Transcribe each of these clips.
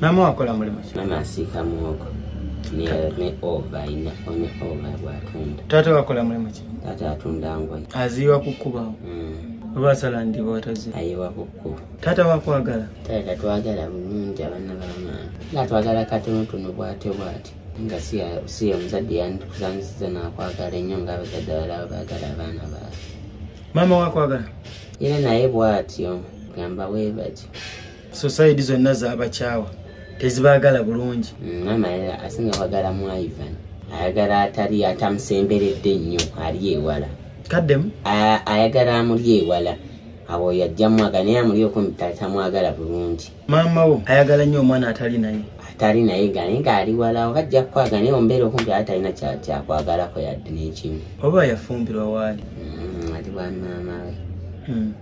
Mama wakola mulimu ki? Mama asiika muwogo. Niye ne ova ina onye ova bwatunda. Tata wakola mulimu ki? Tata atunda ngoye. Aziwa kukuba. Mm. Oba asala ndiba watazi. Ayiwa kuku. Tata wakwagala. Tata twagala bulungi abana bama. Na twagala katono tuno bwate bwate. Nga siya siya mzadi yandi kuzanisiza na kwagala enyo nga abazadi wala bagala abana ba. Mama wakwagala. Ina na ebu atyo. Gamba webati. society zonna zabakyawa tezibagala bulungi mm, maama asinga kwagala mu ivan ayagala atali atamusemberedde nnyo ali ewala kaddemu ayagala amuli ewala awo yajja mwaga naye amuli okumutatamwagala bulungi maama wo ayagala nnyo omwana atali naye atali naye ga naye ngaali wala oba ajja kukwaga naye ombeera okumpi aa talina kyakwagalako yadde n'ekimu oba yafumbirwa waali mm, ali wa maama we mm.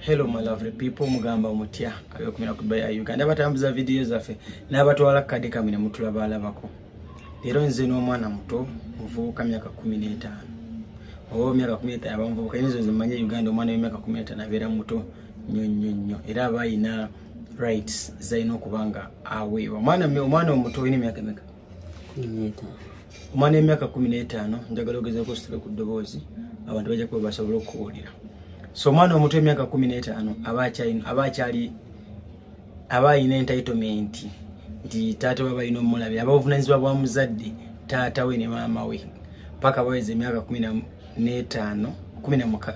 hello my lovely people mugamba mutya abekumira ku baya uganda batambuza video zaffe nabatwala kadi kamwe ne mutula balabako lero nze no mwana muto muvuka myaka 15 owo myaka 15 abamvuka inzo zimanye uganda mwana myaka 15 na vera muto nyo nyo nyo era bayina rights zalina okuba nga aweebwa omwana omwana omuto olina emyaka emeka omwana emyaka kumi n'etaano njagala ogezako ositule ku ddoboozi abantu bajja kuba basobola okukuwulira so omwana omuto emyaka kumi n'etaano aba akyali aba alina entitlement nti taata we balina omulabira aba obuvunanyizibwa bwa muzadde taata we ne maama we paka baweza emyaka kumi n'etaano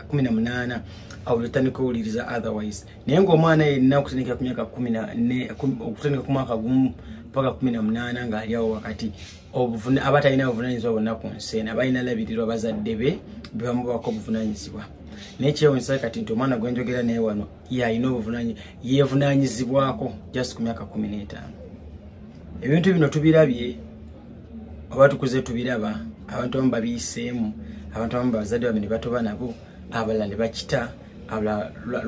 kumi na munaana awo lwetandika owuliriza otherwise naye ngaomwana yenna okutandikira ku myaka okutandika ku mwaka gumu paka kumi na munaana ng'ali awo wakati aba talina buvunanyizibwa bonna ku nsi ena balina labirirwa bazadde be bebamubako obuvunanyizibwa naye kyewunyisa kati nti omwana gwenjogera naye wano yalina obuvunanyi yevunanyizibwako just ku myaka kumi n'etaano ebintu bino tubirabye oba tukuze tubiraba abantu abamu babiyiseemu abantu abamu bazadde babe ne batoba nabo abalala ne bakita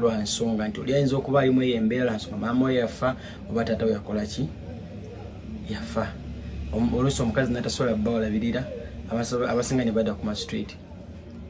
lwa nsonga nti oli ayinza okuba alimu eyo embeera lwa nsonga maama oyo yafa oba taata we yakola ki yafa oluusi omukazi natasobola bawalabirira abasinga ne badda ku mastreet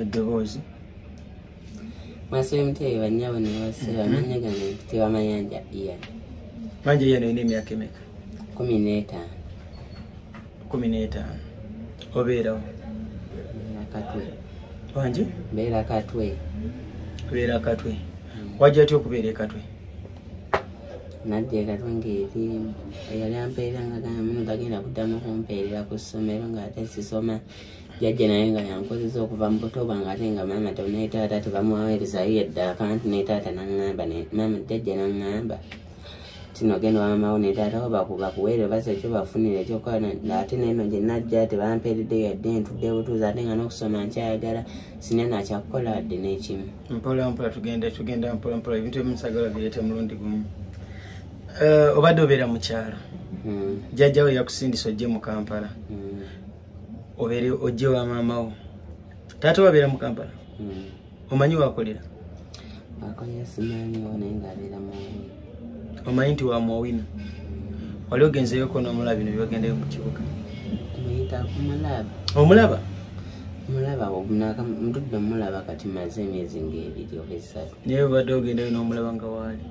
eddoboozi mwasemuteye banyabo nebase bamanya gano ekitibwa mayanja iya manja iya nalina emyaka emeka kumi n'etaano kumi n'etaano obeerawo katwe wangi mbeera katwe beera katwe wajja tya okubeera ekatwe nadda ekatwe ngaeri eyali ampeerera nga gamba munu gagenda kuddamu kumpeerera ku ssomero ng'ate sisoma jajja naye nga yankozesa okuva mu buto bwange ate nga maama to ne taata tebamuwaweerezayo yadde akantu ne taata naŋŋamba maama jajja naŋŋamba tino genda wamamawo ne taata wo bakuweere basa ekyo bafunire ekyokukola ate neno gye najja tebampeeredde yadde ntudde butuuzi ate nga n'okusoma nkyayagala sine nakyakukola wadde n'ekimu mpola mpola tugenda tugenda mpola mpola ebintu ebimusagala bireeta mulundi gumu eh, obadde obeera mu kyalo hmm. jajjawo yakusindisa ojje mu kampala hmm. obeere ojje wa maama wo taata wabeera mu kampala hmm. omanyi wakolera omanyi nti wamwowina wali ogenzeyoko nomulabi nebyogendeyo mu kibuga omulaba mulaba obunaka mutudde mulaba kati maze emyezi ngaebiri oba esatu naye obadde ogendayo nomulaba nga waali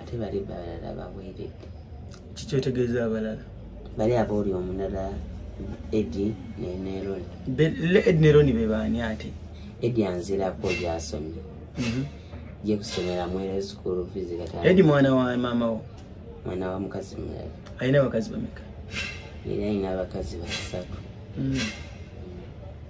ate bali balala baweeredde kikyetegeeza abalala bali abooli omulala edi neneroni edi neroni bebaani ate edi anzirako gyasomye mhm. je kusomera mwere sukulu fizi kata edi mwana wa mama wo mwana wa mukazi mulala alina abakazi bameka era alina abakazi basatu mhm.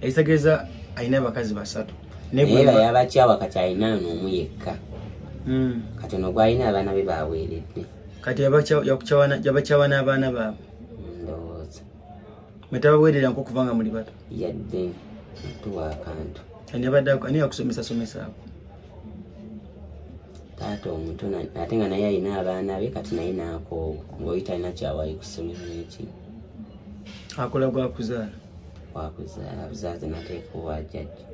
ekitegeeza alina abakazi basatu yabakyawa kati alina noomu yekka hmm. kati ono gwalina abaana be baweeredde kati yabakyawa n'abaana baabwe ndowooza mwetabaweerera nkokuva nga muli bato yadde tuwa akantu ani abadde ani yakusomesa somesaako taata omuto ate nga naye alina abaana be kati naye nakoowa ngaoyi talina kyawayi ku ssomero eki akola gwakuzaala wakuzaala buzaazi nateeka owa jajja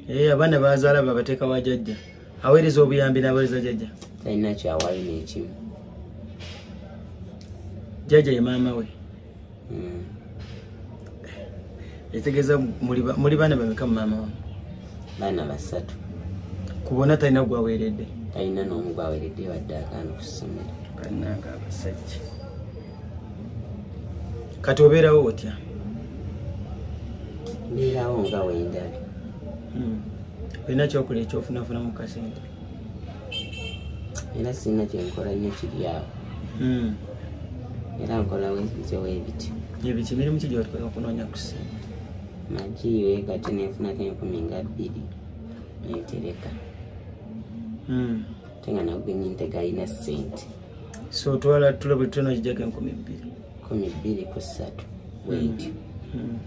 ee eh, abaana bazaala babateeka wa jajja aweereza obuyambi naweereza jajja talina kyawayi nekimu jajja ye maama we mm. etegeeza muli baana bameka mu maama wange baana basatu kubona talina gwaweredde talina nomu gwaweredde wadde agaana okusomera bananga abasajja kati obeerawo otya mbeerawo nga wendabi hmm. olina kyokola ekyofunafuna mu kasente era sirina kyenkola nnyo kiryawo hmm. era nkola webityo webityo ebityo emirimu ki gyotokola okunoonya kusiima magi wekati nenfunako enkumi nga bbiri nentereka hmm. ate nga nagugenyi ntegalina sente so otwala tulo buli tona kijako enkumi bbiri kumi bbiri ku ssatu bwentyo hmm.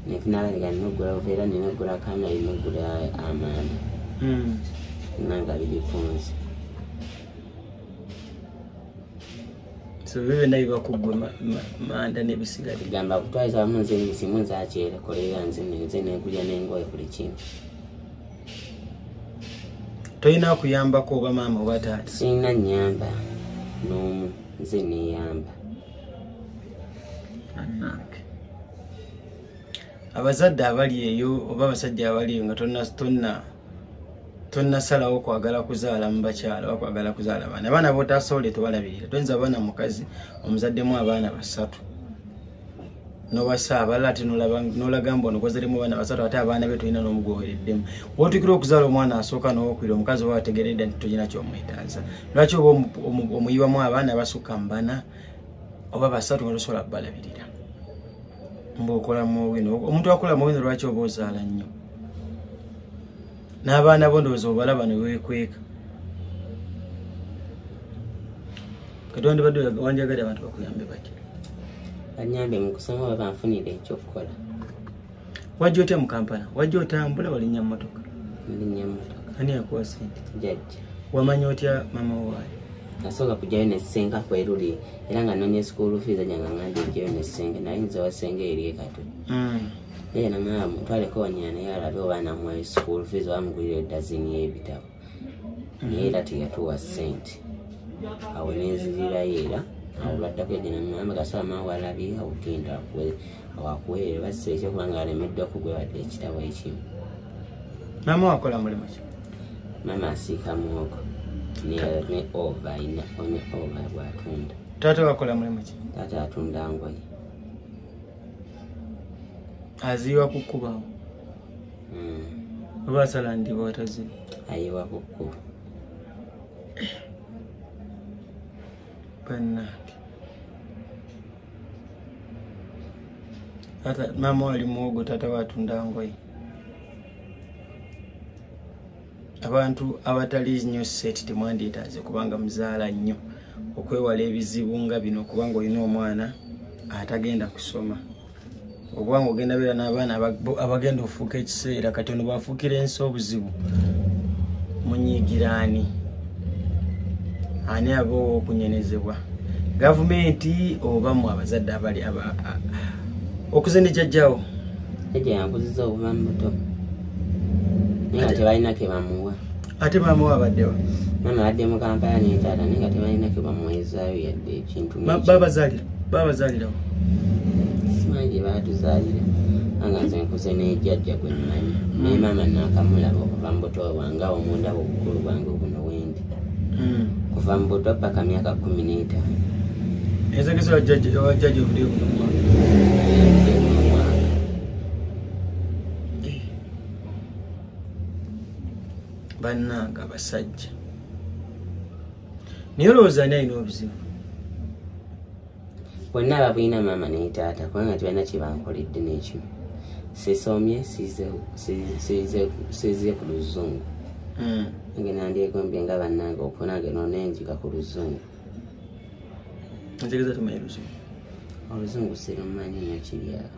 nefunabaliga nogula ovaera ninogula kanga inogula amaana hmm. nanga biri kunzi byona bibakugwe manda nebisigali gamba kutwaiza wamu nze ebisimu nze akyere koleera nze nze negulya nengoye buli kimu tolina kuyambako oba maama oba taata sirina nyamba n'omu nze neyamba anange abazadde abali eyo oba abasajja abali eyo nga tonna tonna tonasalawo kwagala kuzaala mu bakyala oba kwagala kuzaala abaana abaana botasobola tebalabirira toyinza abaana mukazi omuzaddemu abaana basatu nowasa abalala ate nolaga mbu onokozeremu abaana basatu ate abaana be tolina nomu gwowereddemu wotukira okuzaala omwana asooka nowokwira omukazi oba wategeredde nti tolina kyomwetaaza lwaki oba omuyiwamu abaana basukka mubana oba basatu nga tosobola kubalabirira mbu okola muwino omuntu akola muwino lwaki oba ozaala nnyo n'abaana bo ndowooza obalaba ne weekweka kati wandibadde wanjagadde abantu bakuyambe bati banyambe mu kusoma oba banfunire ekyokukola wajja otya mu kampala wajja otambula walinnya mmotoka linnya mmotoka ani yakuwa sente jajja wamanya otya mama waayo nasooka kujayo nesenga kweruli era nga nonya esikuulu fiiza janga ngandi njayo nesenga naye nze wasenga eri ekatwe mm. naye namala mutwaleko wanyina naye alabe oba namuwayo school fees oba mugulira edazini y'ebitabo naye era teyatuwa sente awo nenzirirayo era awo lwaddako egenamama gasaba maa walabye awugenda wakuweerera bassa ekyokuba nga alemeddwa kugwewadde ekitabo ekimu mama wakola mulimu ki mama asiika muwogo ne ova ina one ova bwatunda taata wakola mulimu ki taata atunda ngoye aziwa kukubawo hmm. oba asala ndiba wataziba ayiwa kukuba banange tata mama wali muwogo tata watunda ngoye abantu abatali nnyo seti temwandyetaaze kubanga muzaala nnyo okwewala ebizibu nga bino kubanga olina omwana atagenda kusoma obwanga ogenda beera n'abaana abagenda ofuuka ekiseera kati ono bwafuukira ensi obuzibu munyiigiraani ani aba owokunyenezebwa gavumenti oba mu abazadde abali okuze ne jajjawo jajja yankuziza okuva mu buto nga tebalina kebamuwa ate maama we abaddewa maama abadde mu kampala nentaata naye nga tebalina kebamuwezaayo yadde ekintu babazalira babazalirawo simanyi gye baatuzaalira anga nze nkuze nejajja gwe mmanyi hmm. naye maama naakamulaba okuva mu buto bwange awo mundaba obukulu bwange obuno wendi hmm. kuva mu buto paka myaka kumi n'etaano ezagesa wajjaja ovudde bannanga abasajja naye olowooza ani alina obuzibu bonna ababulina maama naye taata kubanga tibalina kyebankoledde nekyo sisomye size ku luzungu hmm. nange nandyegombye nga bannange okunange nonenjiga ku luzungu oluzungu sirumanyi nekiryawo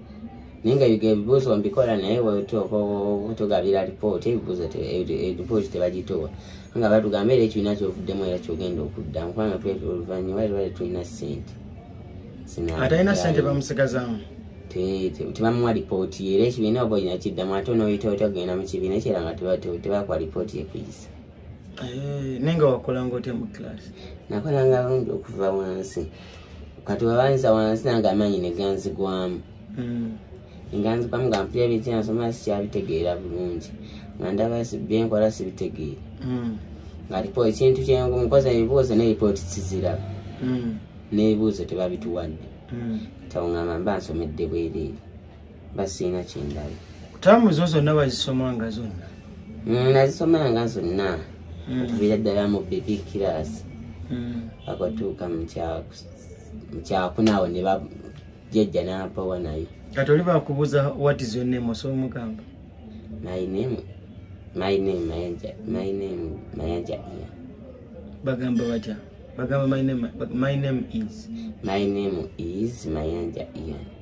naye nga biga ebibuuzo mbikola naye wetuuka okutugabira lipooti ebibuuzo lipooti tebagituwa nga batugamba era ekibiina kyovuddemu era kyogenda okudda mukwana oluvanyuma era bali tulina sente atalina sente bamusigazamu tebamuwa lipooti era ekibiina oba olina kiddamu ate onoyita otya kugenda mu kibiina kyera nga tebakuwa lipooti yekuyisa Eh, nenga wakolanga otya mu class nakolanga lundi okuva wansi kati webanza wansi nange amaanyi neganzigwamu hmm. nganzigwamu nga mpira ebikyansoma sikyabitegeera bulungi nga ndaba byenkola sibitegeera hmm. nga lipo ekintu kyengu mukoza ebibuuzo neripooti kiziraba hmm. n'ebibuuzo tebabituwadde tawungamba mba nsomedde bwereere basiina kyendala taamu zo zonna wazisomanga zonna mm, nazisomanga zonna mm. okubira ddala mu bibi kirasi mm. akwatuuka mukyakunaawo ne bajejja nampawa nayo kati oli bakubuuza wat is your name osobola omugamba my name my name mayanja my name mayanja iya bagamba batya bagamba my name my name is my name is mayanja ian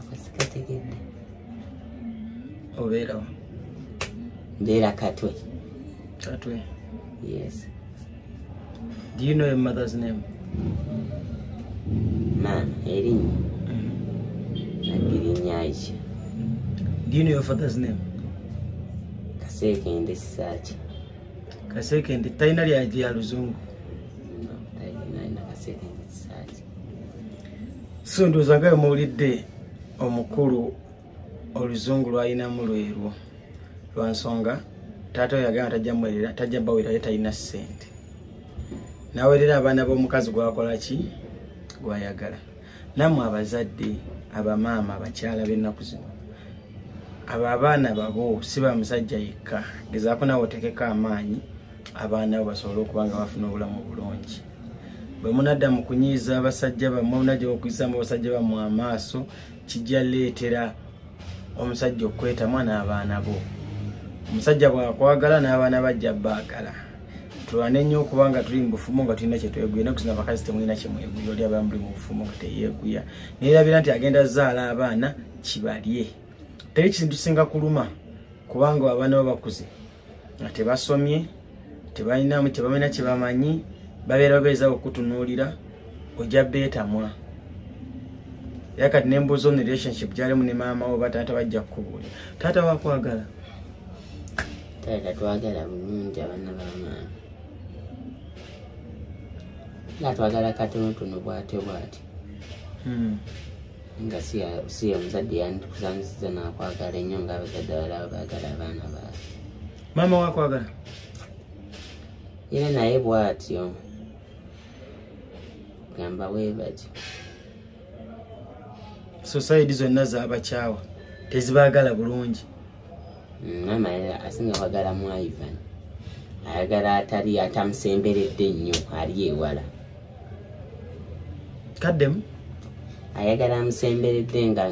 akasikategedde obeerawo mbeera katwe katwe yes do you know your mother's name man erinnya nagirinnya aisha do you know your father's name kaseekende sisaaki kaseekende talina lyagi ya luzungu so ndowooza nga wemuwulidde omukulu oluzungu lwalinamu lwerwo lwansonga taata we yagamba tajja muwerera tajja bawerera ye talina ssente nawerera abaana b'omukazi gwakola ki gwayagala namwe abazadde abamaama abakyala b'ennaku zino abo abaana babo si ba musajja yekka gezaako nawe otekeko amaanyi abaana abo basobole okuba nga bafuna obulamu obulungi bwe munadda mu kunyiiza abasajja bammwe munajja okuyisaamu abasajja bammwe amaaso kijja leetera omusajja okukwetamwa n'abaana bo omusajja bwakwagala n'abaana bajja baagala tulwane nnyo okuba nga tuli mu bufumu nga tulina kyetweguya naye kusina abakazi temulina kyemweguya oli abamu buli mu bufumu nga teyeeguya nayerabira nti agenda zaala abaana kibalye teri kintu singa kuluma kubanga abaana bo bakuze nga tebasomye tebalinamu tebamanyi kyebamanyi babeera babeeza okutunuulira ojja beetamwa era kati nembuuza on relationship gyalimu ne maama wo bataata bajja kukubuulira taata wakwagala taata twagala bulungi abaana bamaama nga twagala katonotono bwatyo bwatyo hmm. nga si ye muzadde yandikusanisiza nakwagala ennyo nga abazadde abalaba bagala abaana baabwe maama wakwagala era naye bwatyo gamba webatyo society zonna zabakyawa tezibagala bulungi mama asinga kwagala mu ivan ayagala atali atamusemberedde nnyo ali ewala kaddemu ayagala amusemberedde nga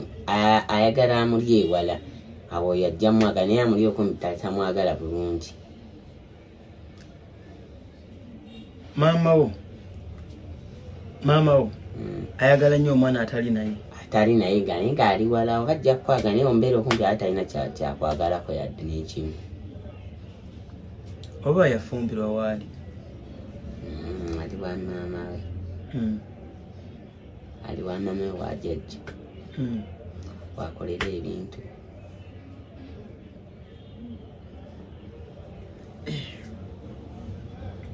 ayagala amuli ewala awo yajja mwagala naye amuli okumutatamwagala bulungi maama wo maama wo mm. ayagala nnyo omwana atali naye atali naye gane ngaali wala oba ajja kukwagala naye ombeera okumpi ate alina kyakwagalako yadde nekimu oba yafumbirwa waali mm, ali wa maama we mm. ali wa maama we wajajja wakolera ebintu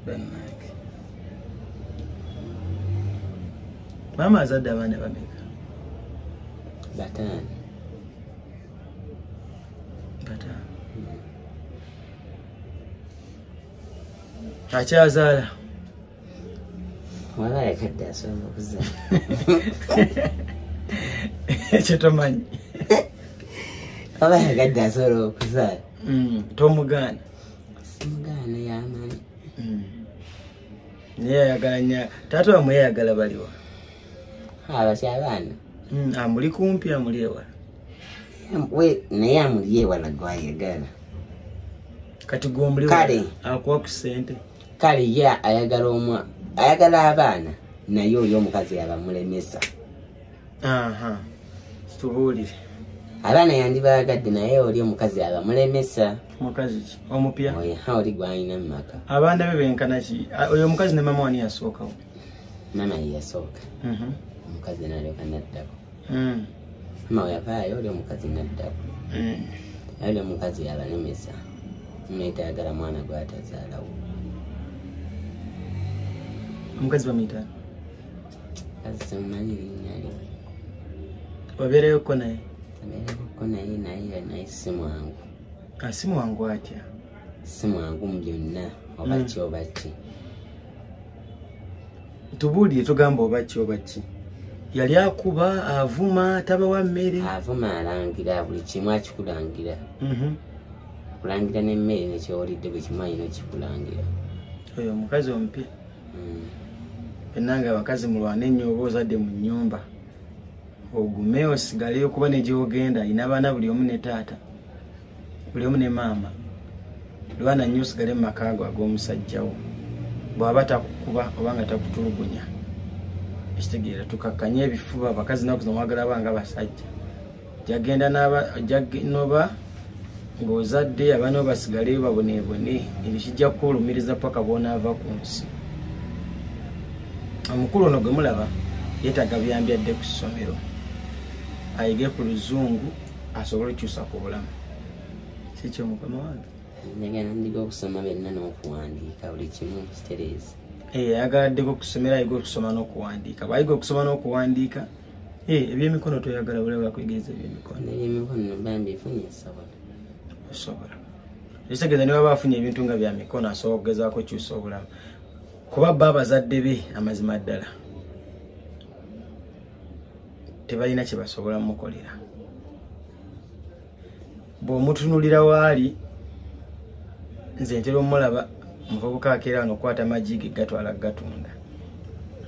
bannange maama azadde abaana bameka bataano bataano akyazaala wala yakadde asobola okuza ekyo tomanyi wala yakadde asobola okuzaala mm, tomugaana simugaana yamanyi mm. naye ayagala nya taata wamwe yayagala baliwa abaki abaana mm, amuli kumpi amuli ewala naye amuli ewala gwayagala kati gwomuliwala akuwa ku sente kale ye ayagala omwa ayagala abaana naye oyo omukazi yabamulemesa tubuulire abaana yandibaagadde naye oli omukazi abamulemesa mukazi ki omupya oli gwalina mu maka abaana be benkana ki oyo omukazi ne mama wani yasookawo mama yeyasooka mhm. omukazi nalyoka naddako mm. ma weyavaayo oli omukazi naddaku mm. ali omukazi yabalemesa muyita ayagala mwana gwatazaalawo omukazi bamuyita kazi semumanyi linyali wabeereyoko naye abeereyoko naye naye naye si mwangu ah, si mwangu atya si mwangu mu byonna oba mm. ki oba ki tubuulire tugamba oba ki oba ki yali akuba avuma tabawa mmere avuma alangira buli kimu akikulangira mhm. kulangira nemmere nekyowulidde buli kimu ayina okikulangira oyo omukazi omupi mm. enanga abakazi mulwana ennyo oba ozadde mu nyumba ogume osigaleyo kuba negyogenda ayina abaana buli omu ne taata buli omu ne maama lwana nnyo osigale mu maka ago ag'omusajjawo bw'aba takukuba oba nga takutulugunya ekitegeera tukakkanye ebifuba abakazi naku zomwagala ba nga basajja jagenda noba ng'ozadde abaana bo basigale baboneebone ebyo kijja kukuwulumiriza paka bwonaava ku nsi omukulu ono gwe mulaba yeetaaga buyambi adde ku ssomero ayige ku luzungu asobole okyusa ku bulamu kikyo mukama wange njagala ndiga okusoma byonna n'okuwandiika buli kimu kitereeza eh, ayagala ddeko okusomera ayiga okusoma n'okuwandiika bwayiga okusoma n'okuwandiika eh, ebyemikono toyagala bulaba kwegereza ebyemikono ebyemikono bambi efunye esobola osobola ekitegeeza niwaba afunye ebintu nga bya mikono asobola okugezaako okyusa obulamu kuba bba abazadde be amazima ddala tebalina kyebasobola mukolera bwomutunulira waali nze ntera omulaba muvubuka akeera nga okwata magi ge gatwala gatunda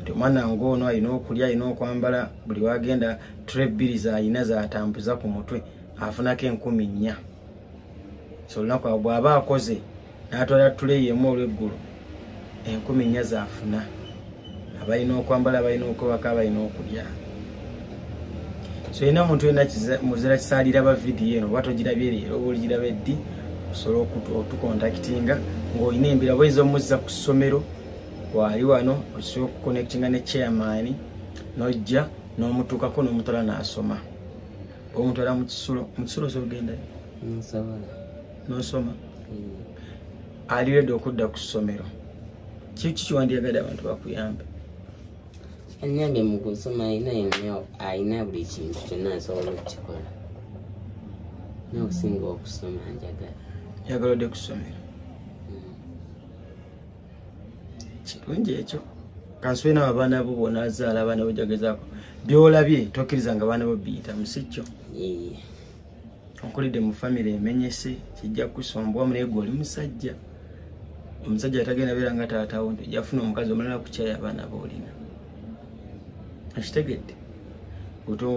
nti omwana nga ono alina okulya alina okwambala buli wagenda tre bbiri zalina zatambuza ku mutwe afunako enkumi nnya so olunaku awo bwaba akoze n'atwala tuleyi emu olw'eggulu enkumi nnya zaafuna abalina okwambala abalina okwebaka abalina okulya so yina omuntu yena muzira kisaalira ba vidiyo eno oba togirabye leero oba oligiraba eddi osobola otukontakitinga ng'olina embira bweza omuzza ku ssomero waali wano osobola okukonectinga ne chairman nojja n'omutuukako n'omutwala n'asoma omutwala mu kisulo mu kisulo osobola ogendayo nosoma ali redi okudda ku ssomero kiki kiwandiyagadde abantu bakuyambe anyange mu kusoma alina yonna alina buli kintu kyonna asobola okukikola nokusinga okusoma njagala njagala odde kusomero mm. kirungi ekyo kansube nawe abaana bo bona azaala abaana bojagezako byolabye tokkiriza nga abaana bo biyitamu sikyo okulidde mu famire emenyese kijja kusombwa munaye gwe oli musajja omusajja atagenda beera nga taatawo nti ojja funa omukazi omalala kukyaya abaana boolina akitegedde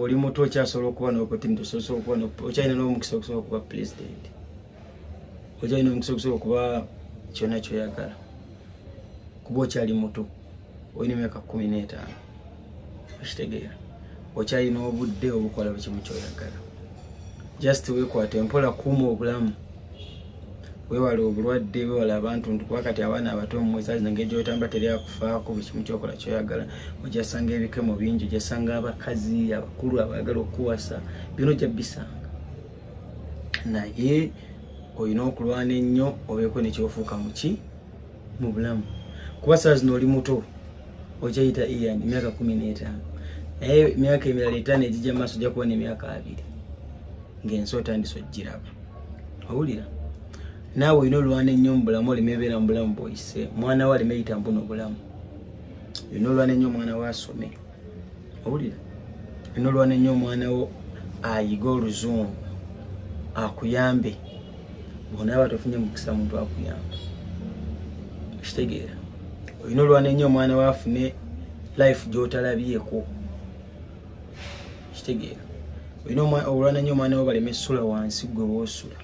oli muto okyasobola okuba nopotmtosobola okuba okyalina n'omukisa okusobola okuba pulezidenti okyalina omukisa okusobola okuba kyona kyoyagala kuba okyali muto olina emyaka kumi n'etaano okitegeera okyalina obudde obukola bukimu kyoyagala just wekwata empola kuuma obulamu wewala obulwadde wewala abantu nti kuba kati abaana abato mumwesaz nange gyotamba teri akufaako buli kimu kyokola kyoyagala ojasanga ebikemo bingi ojasanga abakazi abakulu abaagala okukuwasa byona ojja bisanga naye olina okulwana ennyo obeeko nekyofuuka muki mu bulamu kuba saa zino oli muto okyayita ian emyaka kumi n'etaano naye emyaka emirala etaano egijja mu maaso ojja kubona emyaka abiri ng'ensi otandisa ogiraba owulira naawe olina olwana ennyo mu bulamu oleme ebeera mu bulamu bwoyise mwana we aleme yita mbuno obulamu olina olwana ennyo omwana we asome owulira nolwana nnyo omwana wo ayiga oluzungu akuyambe onaaba tofunye mukisa muntu akuyambe kitegeera olina olwana ennyo omwana wo afune life gyotalabyeko kitegeera olina olwana nnyo omwana wo baleme sula wansi gwe woosula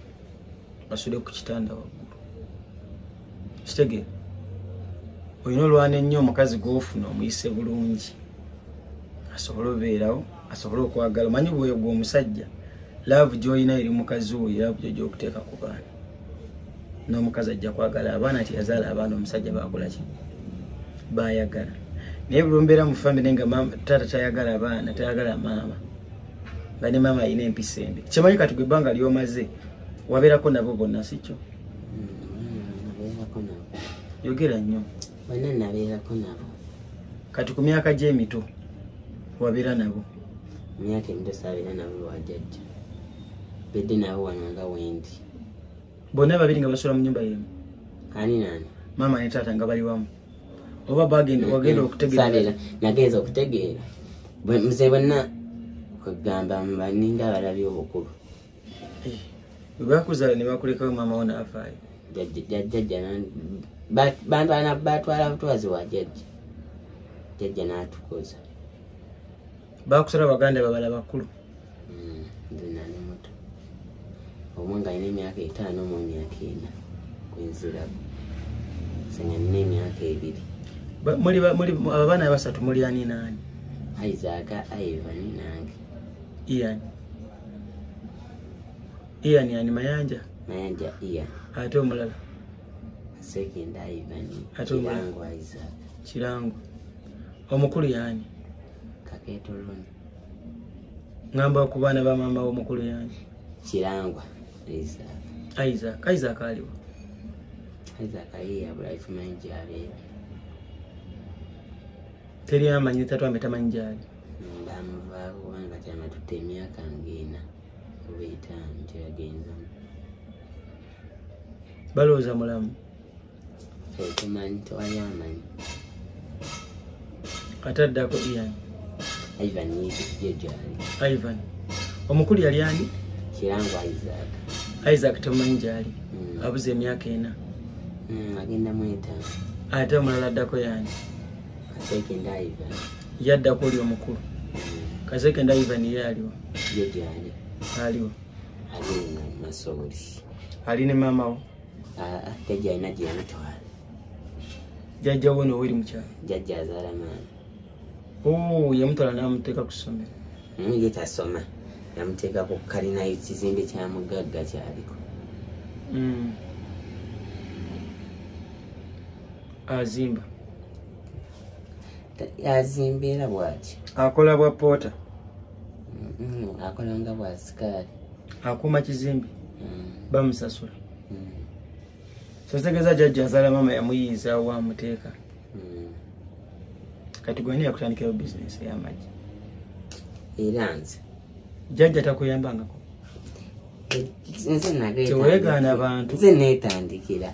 basule ku kitanda waggulu kitegere olina olwana ennyo omukazi gwofuna omuyise bulungi asobole obeerawo asobole okwagala omanyi bwoyo gwe omusajja laavu gyolina eri mukazi woyo laavu gyo gyokuteeka ku baana n'omukazi ajja kwagala abaana nti yazaala abaana omusajja bakolaki bayagala naye bulumbeera mu famire nga taata tayagala abaana tayagala maama nga ne maama alina empisa embi kyemanyi kati gwe ebbanga lyomaze wabeerako nabo bonna sikyo yogera nnyo bana nabeerako nabo kati ku myaka gy'emito wabeera nabo myaka emito saabeera nabo lwajajja bedde nabo wano nga wendi bonna babiri nga basula mu nyumba yemu ani nani maama ne taata nga bali wamu oba bagenda wagenda okutegeera nagenza okutegeera mzee bonna kwegamba baninga abalabi obukulu webakuzala eh, nebakulekawo mama wona afaayo jajja bantwana batwala butwazi wa jajja jajja natukuza bakusala baganda babala bakulu hmm, nali muto omu nga alina emyaka etaano mu myaka ena kwenziraku sanga nina emyaka ebiri abaana abasatu muli ani naani aizaaka aivani nange iani ian yani mayanja mayanja ian ate omulala sekenda ivan ate kirango isaac kirango omukulu yani kaketo lon ngamba ku baana ba maama w'omukulu yani kirangwa isaac isaac isaac aliwo isaac ayiyabula ifumanyi gyaleero teri amanyi tatwambe tamanyi gyali baamuvaako kubanga kati amatutte emyaka ng'ena oba etaano kyeyagenzamu balowooza mulamu tumanyi tewali amanyi ate addako ian ivan yejali ivan omukulu yali ani kirango isaac isaac temumanyi gyali hmm. abuze emyaka ena hmm, agenda mwetaano ate omulala addako yani yaddako oli omukulu kaseke ndaivan ye aliwo aliwo ali ne maamawo jajjawo noweri mukyalo oh, yamutwala namuteeka ku ssomero hmm, ye tasoma yamuteeka ku kalina kizimbe kya mugagga kyaliko hmm. azimba azimba era bwaki akola bwa poota mm-hmm. akola nga bwa sikaali akuuma kizimbi mm. bamusasula mm. sotegeza jajja azala mama yamuyiiza wamuteeka mm. kati gwani yakutandikirawo bizinesi eyamagi era nze jajja takuyambangako nze nageegaana bantu nze netandikira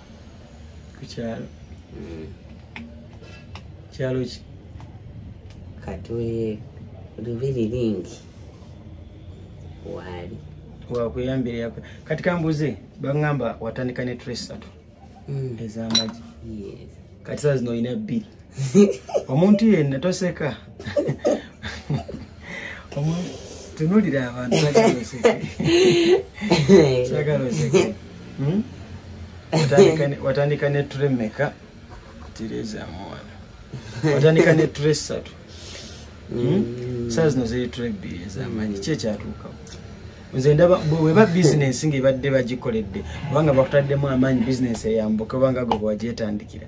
kukyalo mm. kyalo ki katoye lubiri lingi waali wakuyambira kati kambuze baŋamba watandika ne tresatu mm. ezamagi kati saa zino olina bbiri omuntu yenna toseka tunulira abantu sagala oseke hmm? watandika neture meka tirezamuwana watandika neture satu hmm? hmm. saa zino ziriture bbiri ezamanyi ki ekyatuukawo nze ndaba weba bizinensi ngaebadde bagikoledde obanga bakutaddemu amaanyi bizinensi eyambuka obanga gwe bwagyetandikira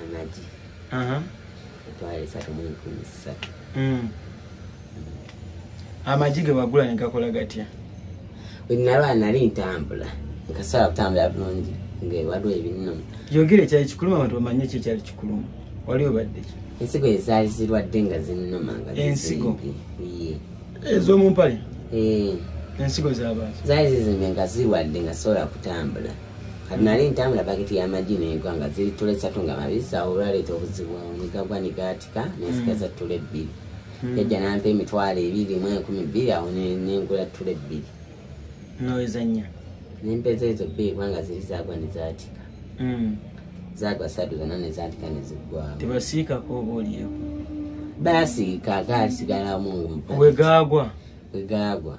amagi etwala esatu mu enkumi ssatu hmm. amagi ge wagula ne gakola gatya wenalwa nali ntambula nkasobola kutambula bulungi ngewaliwo ebinno yogera ekyali kikuluma abantu bamanye ekyo ekyali kikuluma wali obadde ki ensigo ezaali zirwadde nga zinnuma nga ensigo ez'omumpale eh. ensigo zabazi zaali zizimbe nga zirwadde nga sobola kutambula kati nali ntambula baketi y'amagi n'egwa nga ziri ttula essatu nga mabisi awo olwaleeta obuzibu negagwa negaatika nensikaza mm. ttula ebbiri mm. yajja nampa emitwalo ebiri mu enkumi bbiri awo nengula ttula ebbiri noezanya nempeza ezo bbiri kubanga ziri zagwa nezaatika mm. zagwa satu zona nezaatika neziggwawo tebasiikako oba olieko basiika gaasigalamu wegagwa wegagwa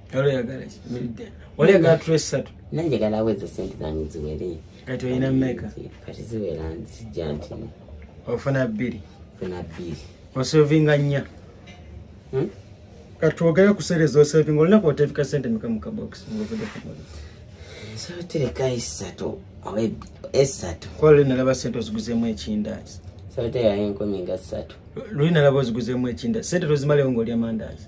olegala tula esatu nanje galawo ezo sente zange ziwere kati olina meka kati ziwera nzijja ntino ofuna bbiri ofuna bbiri osovinga nnya hmm? kati twogere ku sente zosovinga olunaku otefika sente meka mu kabox ngovude kumuli so tereka esatu oba esatu kola luli nalaba sente oziguzemu ekindazi so terayo enkumi nga satu luli nalaba oziguzemu ekindazi sente tozimalewo ngaolya mandazi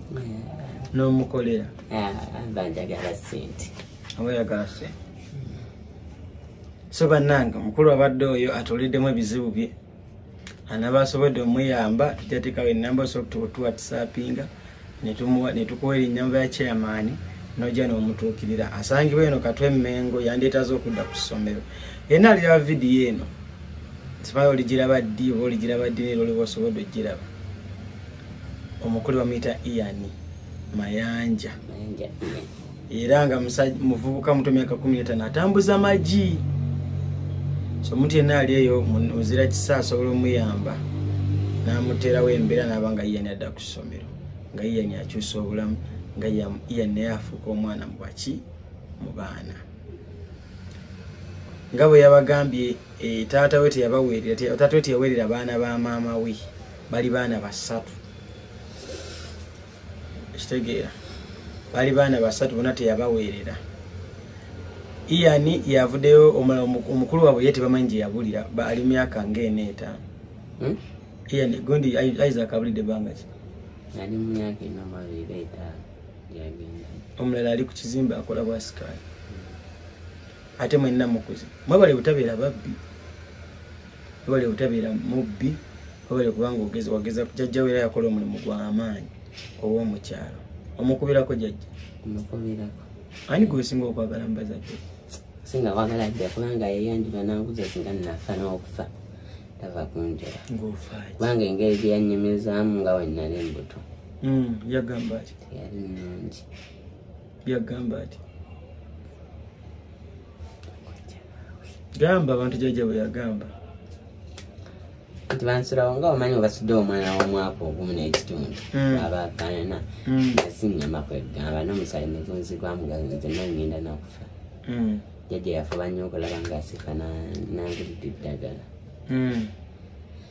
n'omukolera ah, mba njagala sente oba oyagala sente so bannange omukulu abadde oyo atuuliddemu ebizibu bye anaba asobodde omuyamba tujatekawo enamba osobola tuwatisapinga netukuwa erinyamba ya chairmani noja nomutuukirira asangibwa eno katw emengo yandyetaza okudda ku ssomero yena aliraba vidiyo eno sibayo oligiraba ddi oba oligiraba ddi nera oliba osobodde ogiraba omukulu bamuyita ian mayanja era nga muvubuka muto myaka kumi etano atambuza magi so omuntu yenna ali eyo muzira kisa asobola omuyamba namuteerawo embeera naaba nga ian adda ku ssomero nga ian akyusa obulamu nga ian naye afuuka omwana mubaki mu baana nga bwe yabagambye eh, taata we teyabaweerera taata we teyaweerera baana ba maama we bali baana basatu ekitegeera bali baana basatu bona teyabaweerera iyani yavudeyo omulala omukulu wabwe ye tebamanyi gye yabulira ali myaka ngaena etaano hmm? iyani gundi isaac abulidde banga ki omulala ali ku kizimbe akola bwasikaali ate mwenna mukuzi mwebale butabeera babbi webale obutabera mubbi webale kubanga ogeza wageza jajja wera yakola omulimu gwa amaanyi owomukyalo omukubirako jajja omukubirako ani gwesinga okwagala mubazadde singa kwagala jja kubanga yeyanjula nanguza singa nafa nokufa tava kunjera kubanga engeri gyeyanyumizaamu nga wenali embuto hmm, yagamba yali nungi byagamba ati gamba abantu jajja bwe yagamba nti bansulawo nga omanyi obasudde omwana w'omwaka ogumu n'ekitundu hmm. abafanana hmm. nasinyama kwegamba n'omusaayi negunzi gwamugaze nangenda nakufa hmm. jajja yafuba nnyo okulaba nga asika nangulidde eddagala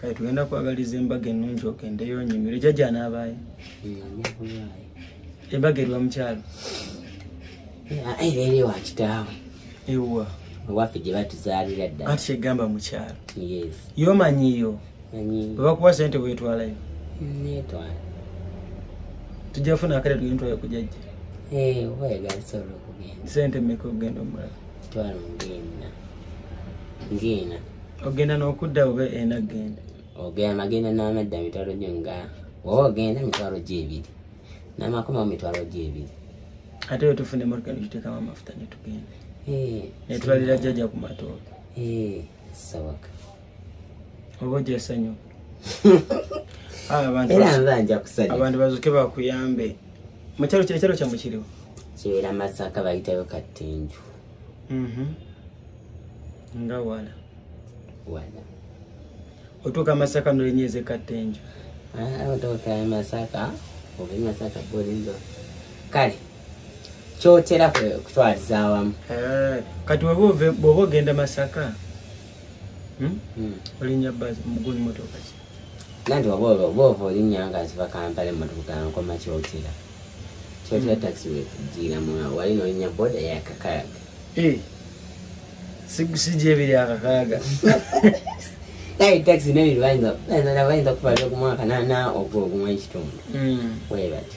kale tugenda kwagaliza embaga ennungi ogendeyo onyumire jajja n'abaayo embaga erwa mukyalo ebeere wa kitaawe ewa ewaffe gye batuzaalira dda ati kyegamba mukyalo yomanyiyo webakuwa sente wetwalayo netwala tujja funa akale tugenda twala kujajja eh, sente meka okugenda omulala twalo ngena ngena ogenda nokudda oba ena genda ogenda magenda namadda mitwalo gyo nga oba ogenda mitwalo gyo ebiri namakoma mu mitwalo gyo ebiri ate yo tufuna emotoka nekitekamu amafuta netugenda eh, netwalira jjaja ku matooka eh, sawa oba ojja sanyu abantu bazuke bakuyambe mukyalo kino ekyalo kyamu kiriwo kibeera masaka bayitayo kattenju mhm. nga wala wala otuuka masaka nolenyeze kattenju ah, otuuka masaka oba masaka bolinzo kale kyotera kutwaliza awamu eh, kati bwoba ogenda masaka Hmm? Hmm. olinya bazi mugulu motoka ki nanti wabwoba bwova olinya nga ziva kampala emotoka nkoma kyotira kyotira hmm. taxi wetujira mwa wali nolinya boda yakakayaga eh. sigusijo ebiri akakayaga naye taxi nebiri bayinza bayinza kuvaza okumwaka nana ogwo ogumwa ekitundu webati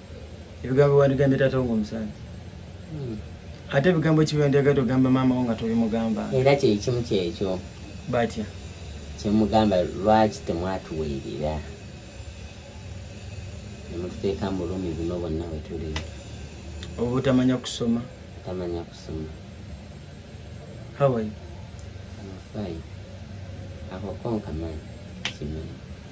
ebigambo wandigambye taata wo ngaomusanyi hmm. ate ebigambo ki byendigade ogamba maama wo nga tobimugamba era kyekimu kyekyo batya kyemugamba lwaki temwatuweerera nemututeeka mu bulumi buno bonna wetuli oba otamanya kusoma otamanya kusoma hawai akokonkamanyi kimanyi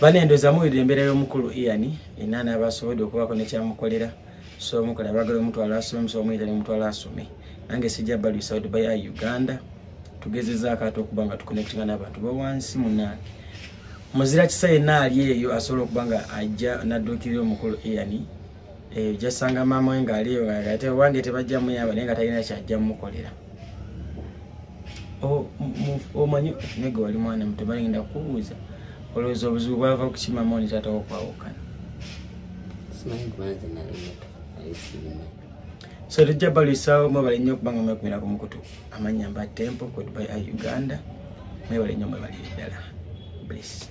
bane ndoza muwulira embeera y'omukulu ian ina naabasobodde okubaako nekyamukolera so omukola abagala omutwala asome so omuyita nemutwala asome nange sijja baluisa dubai a uganda tugezezaako ate okuba nga tuconnectinga n'abantu bawansi munange muzira kisa yenna ali eyo asobola okuba nga ajja nadduukirira omukulu ian eh, jasanga maama we ngaaliyo ate owange tebajja muyamba naye nga talina kyajja mukolera omanyi nege wali mwana muto balingenda kukubuuza olowooza obuzibu bwava kukimama oni taata wokwawukana so tujja balwisaawo mwebale nnyo okubanga mwekumira ku mukutu amannya mba tempo kodby a uganda mwebale nnyo mwebalire ddala bless